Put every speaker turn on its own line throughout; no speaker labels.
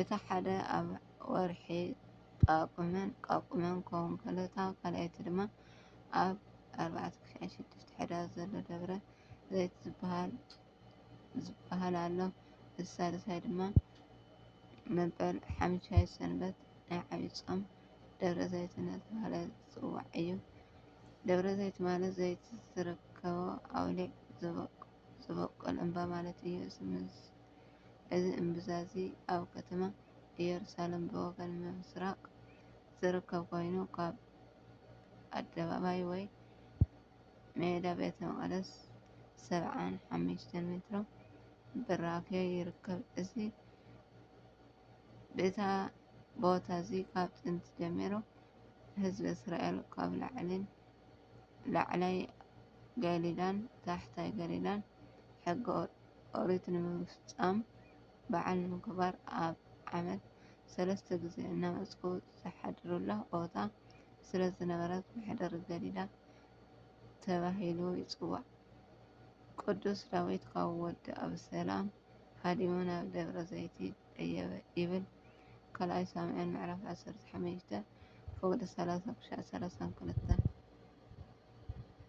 እቲ ሓደ ኣብ ወርሒ ጳጉመን፣ ቛቁመን፣ ክኸውን ከሎ እታ ካልኣይቲ ድማ ኣብ ኣርባዕተ ክሻ ሽዱሽተ ሕዳር ዘሎ ደብረ ዘይት ዝበሃል ዝበሃል ኣሎ። እቲ ሳልሳይ ድማ መበል ሓምሻይ ሰንበት ናይ ዓብዪ ጾም ደብረ ዘይት እናተባህለ ዝጽዋዕ እዩ። ደብረ ዘይት ማለት ዘይት ዝርከቦ ኣውሊዕ ዝበቁል እምባ ማለት እዩ። እዚ ምስ እዚ እምብዛ እዚ ኣብ ከተማ ኢየሩሳሌም ብወገን ምሥራቕ ዝርከብ ኮይኑ ካብ ኣደባባይ ወይ ሜዳ ቤተ መቕደስ ሰብዓን ሓሙሽተን ሜትሮ ብራኬ ይርከብ። እዚ ብታ ቦታ እዚ ካብ ጥንቲ ጀሚሩ ህዝቢ እስራኤል ካብ ላዕሊን ላዕላይ ገሊላን ታሕታይ ገሊላን ሕገ ኦሪት ንምፍፃም በዓል ንምክባር ኣብ ዓመት ሰለስተ ግዜ እናመፅኡ ዝሓድሩላ ቦታ ስለዝነበረት መሕደሪ ገሊላ ተባሂሉ ይፅዋዕ። ቅዱስ ዳዊት ካብ ወዲ ኣብሰላም ሃዲሙ ናብ ደብረ ዘይቲ ደየበ ይብል ካልኣይ ሳሙኤል ምዕራፍ 15 ፈቅዲ 30 ክሻዕ 32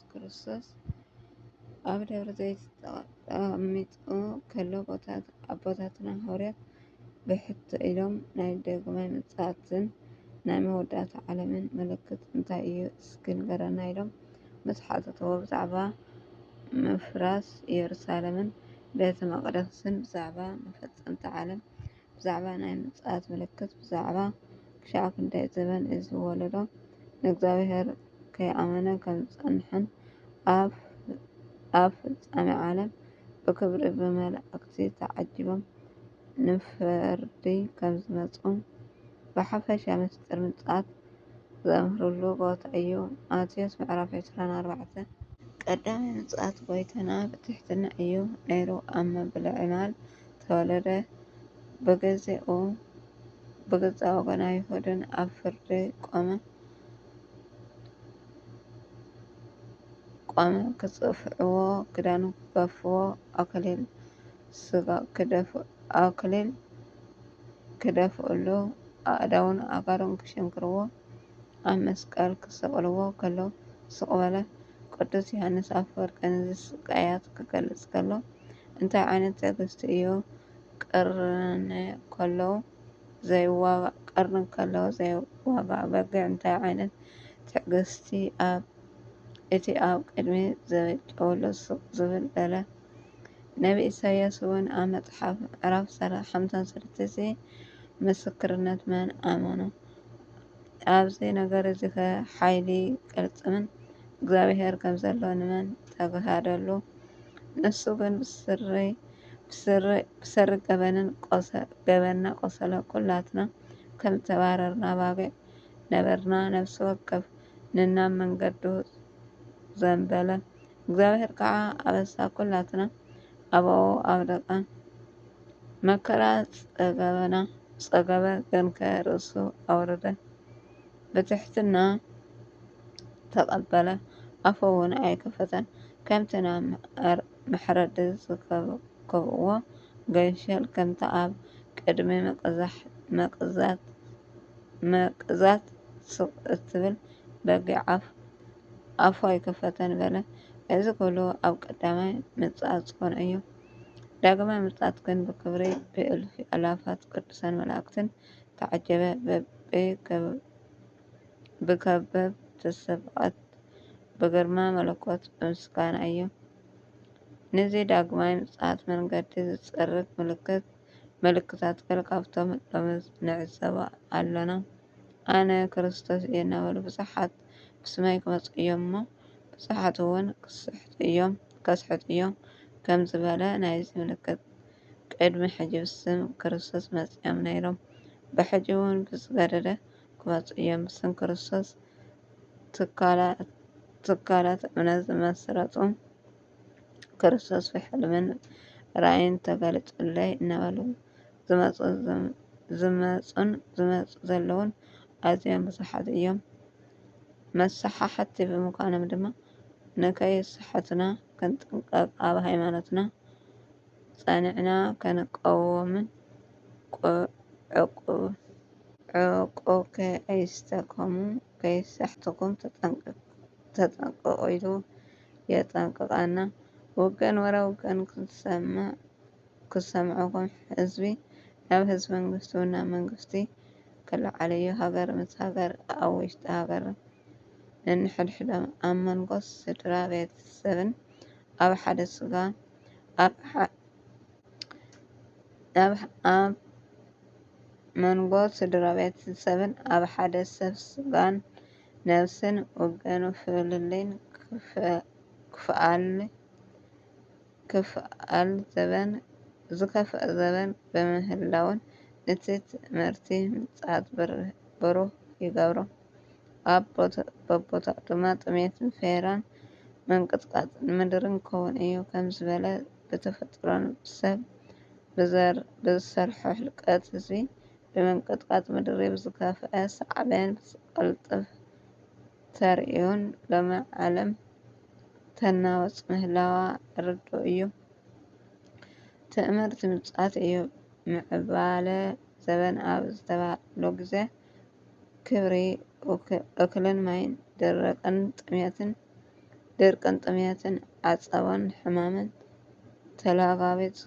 ኢየሱስ ክርስቶስ ኣብ ደብረ ዘይት ተቐሚጡ ከሎ ኣቦታትና ሃዋርያት ብሕቶ ኢሎም ናይ ደግማይ ምጽኣትን ናይ መወዳእታ ዓለምን ምልክት እንታይ እዩ እስኪ ንገረና ኢሎም ምስ ሓተትዎ ብዛዕባ ምፍራስ ኢየሩሳሌምን ቤተ መቕደስን ብዛዕባ መፈጸምቲ ዓለም ብዛዕባ ናይ ምጽኣት ምልክት ብዛዕባ ክሻዕ ክንደይ ዘበን እዚ ወለዶ ንእግዚኣብሔር ከይኣመነ ከም ዝጸንሐን ኣብ ኣብ ፍጻሜ ዓለም ብክብሪ ብመላእክቲ ተዓጂቦም ንፍርዲ ከም ዝመጹን ብሓፈሻ ምስጢር ምጽኣት ዘምህርሉ ቦታ እዩ። ማቴዎስ ምዕራፍ 24 ቀዳማይ ምጽኣት ጐይታና ብትሕትና እዩ ነይሩ ኣብ መብልዒ ማል ተወለደ ብግዜኡ ብገዛእ ወገን ኣይሁድን ኣብ ፍርዲ ቈመ። ክጽፍዕዎ፣ ክዳኑ ክገፍዎ፣ ኣክሊል ስጋ ክደፍእሉ፣ ኣእዳዉን ኣእጋሩን ክሽንክርዎ፣ ኣብ መስቀል ክሰቕልዎ ከለዉ ስቕ በለ። ቅዱስ ዮሓንስ ኣፈወርቂ ነዚ ስቃያት ክገልጽ ከሎ እንታይ ዓይነት ትዕግስቲ እዩ ቅርኒ ከለዉ ዘይዋጋእ ቀርኒ ከለዉ ዘይዋጋእ በግዕ እንታይ ዓይነት ትዕግስቲ ኣብ እቲ ኣብ ቅድሚ ዘበጨውሉ ስቕ ዝብል በለ። ነብዪ ኢሳይያስ እውን ኣብ መጽሓፍ ምዕራፍ ሓምሳን ሰለስተን'ዚ ምስክርነት መን ኣመኖ? ኣብዚ ነገር'ዚኸ ሓይሊ ቅልጽምን እግዚኣብሔር ከም ዘሎ ንመን ተግሃደሉ? ንሱ ግን ብሰሪ ገበንና ቆሰለ፣ ኩላትና ከም ዝተባረርና ኣባጊዕ ነበርና፣ ነፍሲ ወከፍ ንናብ መንገዱ ዘንበለ፣ እግዚኣብሔር ከዓ ኣበሳ ኩላትና ኣባኡ ኣውደቀ መከራ ጸገበና ጸገበ ገንከ ርእሱ ኣውረደ ብትሕትና ተቀበለ ኣፈውን ኣይከፈተን ከምቲ ናብ መሕረዲ ዝከብእዎ ገንሸል ከምቲ ኣብ ቅድሚ መቅዛት ስቅ እትብል በጊዕ ኣፍ ኣፉ ኣይክፈተን በለ። እዚ ኩሉ ኣብ ቀዳማይ ምጽኣት ኰን እዩ። ዳግማይ ምጽኣት ግን ብክብሪ ብእልፊ ኣእላፋት ቅዱሳን መላእክትን ተዓጀበ ብከበብቲ ሰብኣት ብግርማ መለኮት ብምስጋና እዩ። ንዚ ዳግማይ ምጽኣት መንገዲ ዝጸርግ ምልክት ምልክታት ገለ ካብቶም ሎሚ ንዕዘቦ ኣሎና። ኣነ ክርስቶስ እየ እናበሉ ብዙሓት ብስመይ ክመጹ እዮም እሞ ብዙሓት እውን ከስሕቱ እዮም ከም ዝበለ ናይዚ ምልክት ቅድሚ ሕጂ ብስም ክርስቶስ መጺኦም ነይሮም ብሕጂ እውን ብዝገደደ ክመጹ እዮም ብስም ክርስቶስ ትካላት እምነት ዝመስረቱ ክርስቶስ ብሕልምን ራእይን ተገልጹለይ እናበሉ ዝመጹን ዝመጹ ዘለዉን ኣዝዮም ብዙሓት እዮም። መሰሓሕቲ ብምዃኖም ድማ ንከይስሕቱና ክንጥንቀቕ ኣብ ሃይማኖትና ጸኒዕና ክንቀውምን ዕቁከ ኣይስተከሙ ከይሰሕትኩም ተጠንቀቑ ኢሉ የጠንቅቐና። ውገን ወረ ውገን ክሰምዕኹም ህዝቢ ናብ ህዝቢ መንግስቱ ናብ መንግስቲ ክለዓል እዩ ሃገር ምስ ሃገር ኣብ ውሽጢ ሃገር ነንሕድሕዶም ኣብ መንጎ ስድራ ቤተሰብን ኣብ ሓደ ስጋ ኣብ መንጎ ስድራቤት ዝሰብን ኣብ ሓደ ሰብ ስጋን ነብስን ወገን ፍልልይን ክፍኣል ዘበን ብምህላዉን እቲ ትእምርቲ ምጽኣት ብሩህ ይገብሮ። ኣብ በቦታኡ ድማ ጥሜትን ፈሄራን ምንቅጥቃጥ ምድርን ክኸውን እዩ ከም ዝበለ ብተፈጥሮን ብሰብ ብዘር ብዝሰርሖ ህልቀት ህዝቢ ብምንቅጥቃጥ ምድሪ ብዝከፍኣ ሳዕቤን ብዝቐልጥፍ ተርእዮን ሎሚ ዓለም ተናወፅ ምህላዋ ርዱእ እዩ። ትእምርቲ ምጽኣት እዩ። ምዕባለ ዘበን ኣብ ዝተባህለሉ ግዜ ክብሪ እክልን ማይን ደረቅን ጥምየትን ድርቅን ጥምየትን ዓፀቦን ሕማምን ተላባቢፁ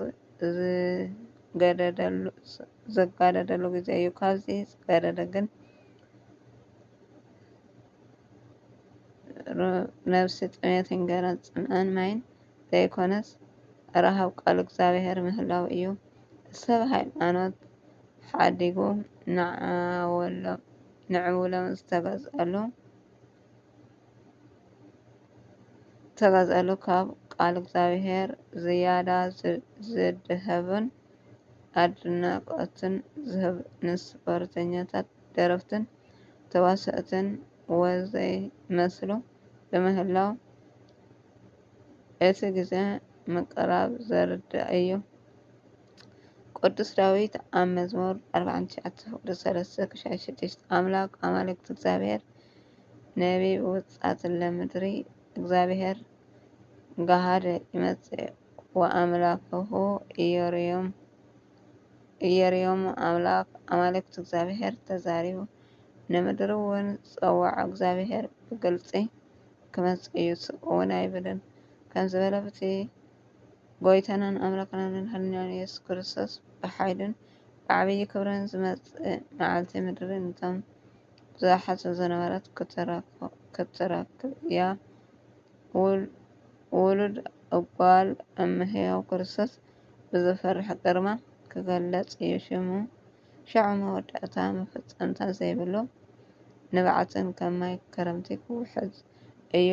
ዝጋደደሉ ግዘ እዩ። ካብዚ ዝገደደ ግን ነብሲ ጥምየት እንገራን ፅምኣን ማይን ዘይኮነስ ረሃብ ቃል እግዚኣብሔር ምህላው እዩ። ሰብ ሃይማኖት ሓዲጉ ንዓወሎም ዝተገዝኣሉ። ተገዝኣሉ ካብ ቃል እግዚኣብሔር ዝያዳ ዝድሀብን ኣድናቆትን ዝህብ ንስፖርተኛታት ደረፍትን ተዋሰእትን ወዘይ መስሉ ብምህላው እቲ ግዘ ምቅራብ ዘርድእ እዩ። ቅዱስ ዳዊት ኣብ መዝሙር ኣርብዓን ትሽዓተ ፍቅዲ ሰለስተ ክሻዕ ሽዱሽተ ኣምላክ ኣማልክቲ እግዚኣብሔር ነቢብ ውፃትለ ምድሪ እግዚኣብሔር ጋሃደ ይመፅእ ወኣምላክሁ እየርዮም ኣምላክ ኣማልክቲ እግዚኣብሔር ተዛሪቡ ንምድሪ እውን ፀዋዖ እግዚኣብሔር ብግልፂ ክመፅእ እዩ ስቅ እውን ኣይብልን ከምዝበለ ብቲ ጎይታናን ኣምላኽናን መድሓኒናን ኢየሱስ ክርስቶስ ብሓይሉን ብዓብዪ ክብርን ዝመጽእ መዓልቲ ምድሪ ነቶም ብዙሓት ዝነበረት ክትረክብ እያ። ውሉድ እጓል እመ ሕያው ክርስቶስ ብዘፍርሕ ግርማ ክገለጽ እዩ ሽሙ። ሸዑ መወዳእታ መፈጸምታ ዘይብሉ ንብዓትን ከም ማይ ክረምቲ ክውሕዝ እዩ።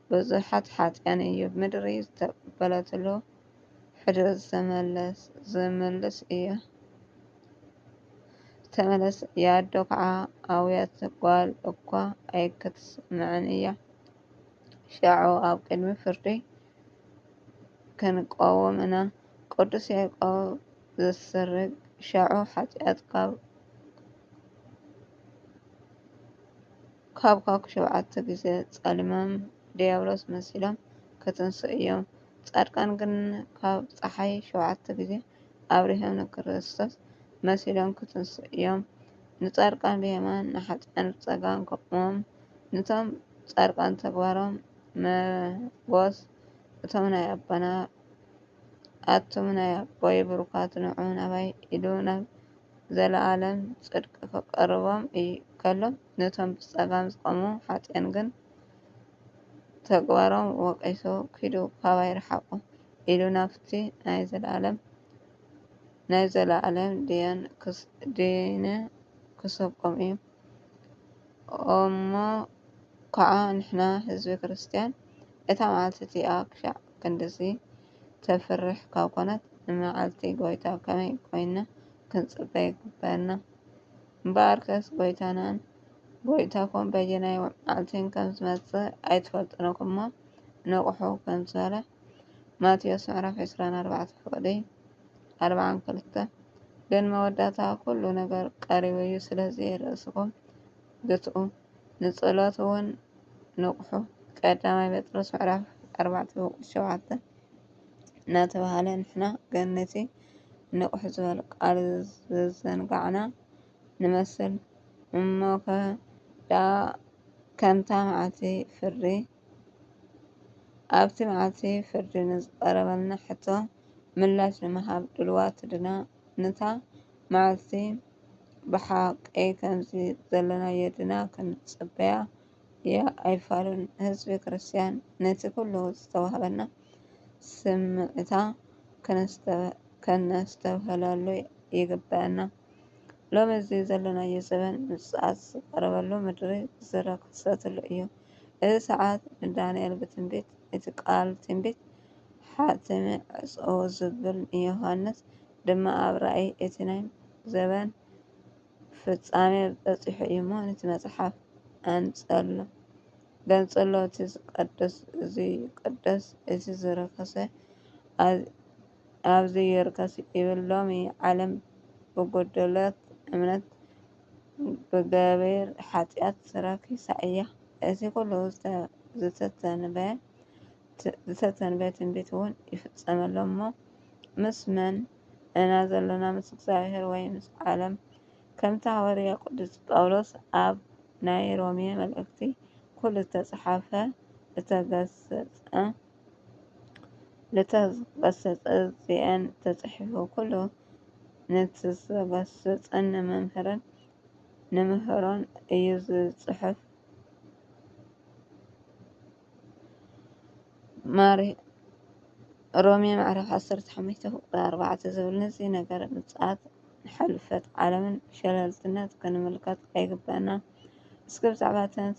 ብዙሓት ሓጥያን እዩ ምድሪ ዝተቀበለትሉ ሕድሪ ዝተመልስ እያ ኣዶ ከዓ ኣውያት ጓል እኳ ኣይክትስምዕን እያ ሸዑ ኣብ ቅድሚ ፍርዲ ክንቆውም እና ቅዱስ ያዕቆብ ዘስርግ ሸዑ ሓጢኣት ካብ ኻብኳ ሸውዓተ ግዜ ጸሊሞም ድያብሎስ መሲሎም ክትንስኡ እዮም። ጻድቃን ግን ካብ ጸሓይ ሸውዓተ ግዜ ኣብሪሆም ንክርስቶስ መሲሎም ክትንስኡ እዮም። ንጻድቃን ብየማን ንሓጥኣን ብጸጋም ከቁሞም ንቶም ጻድቃን ተግባሮም መጎስ እቶም ናይ ኣቦና ኣቱም ናይ ኣቦይ ብሩካት ንዑ ናባይ ኢሉ ናብ ዘለኣለም ጽድቂ ኺቐርቦም እዩ ከሎ፣ ነቶም ብጸጋም ዝቘሙ ሓጥኣን ግን ተግባሮም ወቒሱ፣ ኪዱ ኻባይ ርሓቑ፣ ኢሉ ናብቲ ናይ ዘለኣለም ናይ ዘለኣለም ድየን ኪሰብቆም እዩ። እሞ ኸኣ ንሕና ህዝቢ ክርስትያን እታ መዓልቲ እቲኣ ኽሻዕ ክንድዚ ተፍርሕ ካብ ኮነት ንመዓልቲ ጎይታ ከመይ ኮይንና ክንጽበ ይግበኣና? እምበኣርከስ ጎይታናን ጎይታኹም በየናይ መዓልቲን ከም ዝመጽእ ኣይትፈልጡን ኢኹም እሞ ንቕሑ ከም ዝበለ ማቴዎስ ምዕራፍ 24 ፍቕዲ 42 ግን መወዳእታ ኩሉ ነገር ቀሪቡ እዩ ስለዚ ርእስኹም ግትኡ ንጸሎት እውን ንቕሑ ቀዳማይ ጴጥሮስ ምዕራፍ ኣርባዕተ ቁጽሪ ሸውዓተ እናተባህለ ንሕና ግን ነቲ ንቕሑ ዝበል ቃል ዘዘንጋዕና ንመስል እሞ ከ ደኣ ከምታ መዓልቲ ፍርዲ ኣብቲ መዓልቲ ፍርዲ ንዝቐረበልና ሕቶ ምላሽ ንምሃብ ድልዋት ድና? ነታ መዓልቲ ብሓቂ ከምዚ ዘለናዮ ድና ክንጽበያ እያ ኣይፋሉን ህዝቢ ክርስትያን ነቲ ኩሉ ዝተዋህበና ስምዕታ ከነስተብህለሉ ይግበአና። ሎሚ እዚ ዘለናዮ ዘበን ምጽኣት ዝቐረበሉ ምድሪ ዝረ ክሰትሉ እዩ። እዚ ሰዓት ንዳንኤል ብትንቢት እቲ ቃል ትንቢት ሓትሚ ዕጽው ዝብል ዮሃንስ ድማ ኣብ ራእይ እቲ ናይ ዘበን ፍጻሜ በጺሑ እዩ እሞ ነቲ መጽሓፍ ኣንጸሎ ገንጽሎ እቲ ዝቀደስ እዚ ይቀደስ እቲ ዝረከሰ ኣብዚ ይርከስ ይብል ሎሚ ዓለም ብጎደለት እምነት ብገቢር ሓጢኣት ረኪሳ እያ እዚ ኩሉ ዝተተንበየ ትንቢት እውን ይፍጸመሎም እሞ ምስ መን እና ዘለና ምስ እግዚኣብሔር ወይ ምስ ዓለም ከምቲ ሃዋርያ ቅዱስ ጳውሎስ ኣብ ናይ ሮሜ መልእክቲ ኩሉ እተጽሓፈ እተገሰጸ ልተገሰጸ ዚኤን ተጽሒፉ ኩሉ ንትዘገሰጸን ንመምህርን ንምህሮን እዩ ዝጽሕፍ ሮሜ ምዕራፍ ዓሰርተ ሓሙሽተ ቁጽሪ ኣርባዕተ ዝብል ነዚ ነገር ምጽኣት ሕልፈት ዓለምን ሸለልትነት ክንምልከት ኣይግብኣናን። እስኪ ብዛዕባ እተን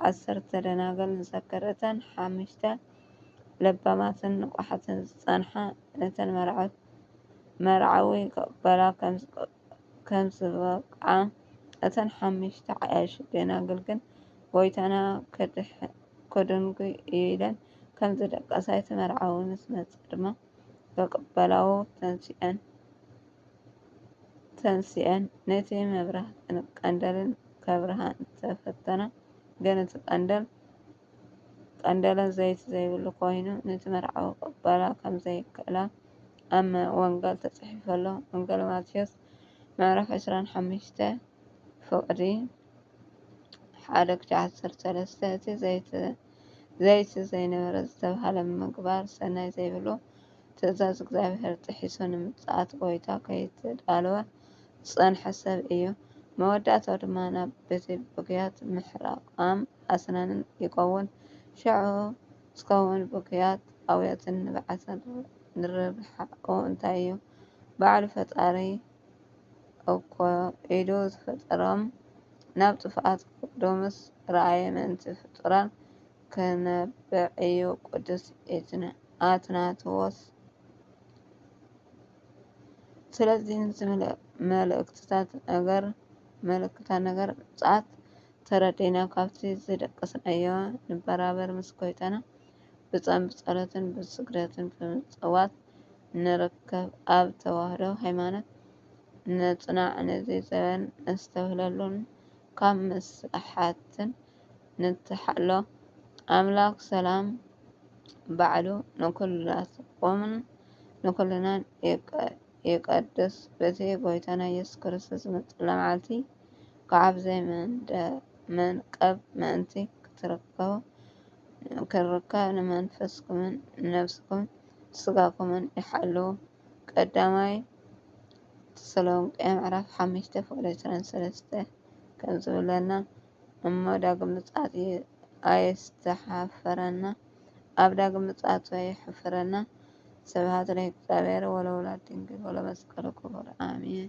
ዓሰርተ ደናግል ንዘክር። እተን ሓሙሽተ ለባማትን ንቑሓትን ዝጸንሓ ነተን መርዓዊ ክቕበላ ከም ዝጸንሓ የመልክት። ከም ዝበቕዓ፣ እተን ሓሙሽተ ዓያሹ ደናግል ግን ጐይታና ከድንጒ ኢለን ከም ዝደቀሳ፣ እቲ መርዓዊ ምስ መጸ ድማ ብቕበላኡ ተንሲኤን ነቲ መብራህትን ቀንደልን ከብርሃ እንተ ፈተና ግን እቲ ቀንደል ቀንደለን ዘይቲ ዘይብሉ ኮይኑ ንቲ መርዓዊ ክቕበላ ከም ዘይክእላ ኣብ ወንገል ተጽሒፉ ኣሎ ወንገል ማቴዎስ ምዕራፍ ዕስራን ሓሙሽተ ፍቕዲ ሓደ ክሻዕ ዓሰርተ ሰለስተ እቲ ዘይቲ ዘይነበረ ዝተብሃለ ምግባር ሰናይ ዘይብሉ ትእዛዝ እግዚኣብሔር ጥሒሱ ንምጽኣት ጎይታ ከይተዳለወ ዝጸንሐ ሰብ እዩ መወዳእታው ድማ ናብ ቤተ ብግያት ምሕራቃም ኣስናንን ይከውን። ሸዑ ዝከውን ብክያት ኣውያትን ንብዓትን ርብሓኡ እንታይ እዩ? ባዕሉ ፈጣሪ እኮ ኢዱ ዝፈጠሮም ናብ ጥፍኣት ክወርዶምስ ርኣየ ምእንቲ ፍጡራን ክነብዕ እዩ ቅዱስ ኣትናተዎስ። ስለዚ ንዝመልእክትታት ነገር ምጽኣት ተረዲእና ካብቲ ዝደቀስናዮ ንበራበር ምስ ጎይታና ብጾም ብጸሎትን ብስግደትን ብምጽዋት ንርከብ ኣብ ተዋህዶ ሃይማኖት ንጽናዕ ነዚ ዘበን ነስተብህለሉን ካብ ምስላሓትን ንተሓሎ ኣምላክ ሰላም ባዕሉ ንኩላትኩምን ንኩልናን ይቀድስ በቲ ጎይታና ኢየሱስ ክርስቶስ ዝመጸላ መዓልቲ ካብ ዘይመንቀብ ምእንቲ ኽትርከቡ፣ ንመንፈስኩምን ንነፍስኹምን ንስጋኹምን ይሓልው። ቀዳማይ ተሰሎንቄ ምዕራፍ ሓሙሽተ ፍቅዲ ዕስራን ሰለስተን ከምዝብለና እሞ ዳግም ምጽኣት ኣየስተሓፍረና ኣብ ዳግም ምጽኣቱ ኣየሕፍረና። ስብሃት ለእግዚኣብሔር ወለወላዲቱ ድንግል ወለመስቀሉ ክቡር ኣሜን።